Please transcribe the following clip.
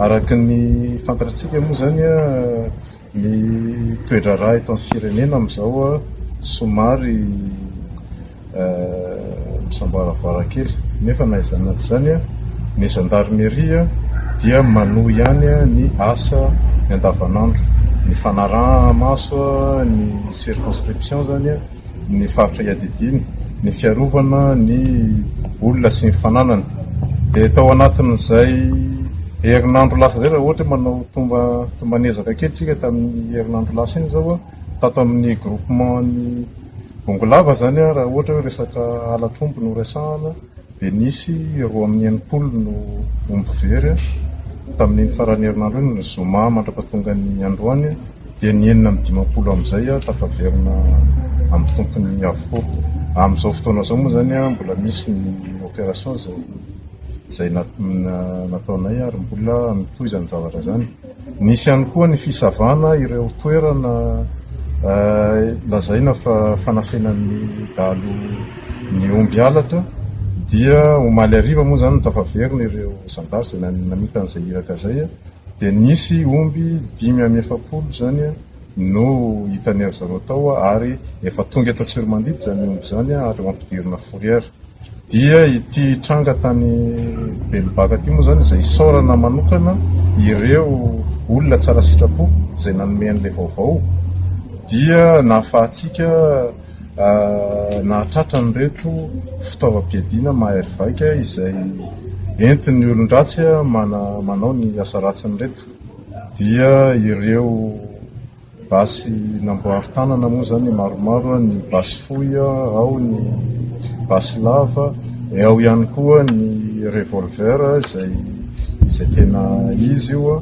Araka ny fantatratsika moa izany ny toe-draharaha eto amin'ny firenena amin'izao somary misamboaravara kely nefa na izany na tsy izany ny gendarmerie dia manohy ihany ny asa ny andavanandro, ny fanaraha-maso ny circonscription izany. ny faritra iadidiany, ny fiarovana ny olona sy ny fananany. Dia tao anatin'izay herinandro lasa izay, raha ohatra hoe manao tomba tomban'ezaka kely isika tamin'ny herinandro lasa iny izao, tato amin'ny groupement-n'ny Bongolava izany, raha ohatra hoe resaka ala tromby no resahana, dia nisy roa amin'ny enimpolo no omby very tamin'iny faran'ny herinandro iny, ny zoma mandra-pahatonga ny androany dia ny enina amby dimampolo amin'izay tafaverina amin'ny tompony avokoa. Amin'izao fotoana izao moa izany mbola misy ny opération izay izay nataonay ary mbola mitohy izany zavatra izany. Nisy ihany koa ny fisavana ireo toerana lazaina fa fanafenan'ny dahalo ny omby halatra dia omaly hariva moa izany no tafaverina ireo zandary izay namita an'izay iraka izay dia nisy omby dimy amby efapolo izany no hitan'ny ry zareo tao ary efa tonga eto Antsiromandidy izany omby izany ary ho ampidirina fourrière. Dia ity tranga tany Belobaka ity moa izany izay isaorana manokana ireo olona tsara sitrapo izay nanome an'ilay vaovao dia nahafahantsika nahatratra an'ireto fitaovam-piadiana mahery vaika izay entin'ny olon-dratsy manao ny asa ratsiny ireto. Dia ireo... Basy namboary tanana moa izany maromaro, ny basy fohy ao, ny basy lava, dia ao ihany koa ny revolver izay izay tena izy io.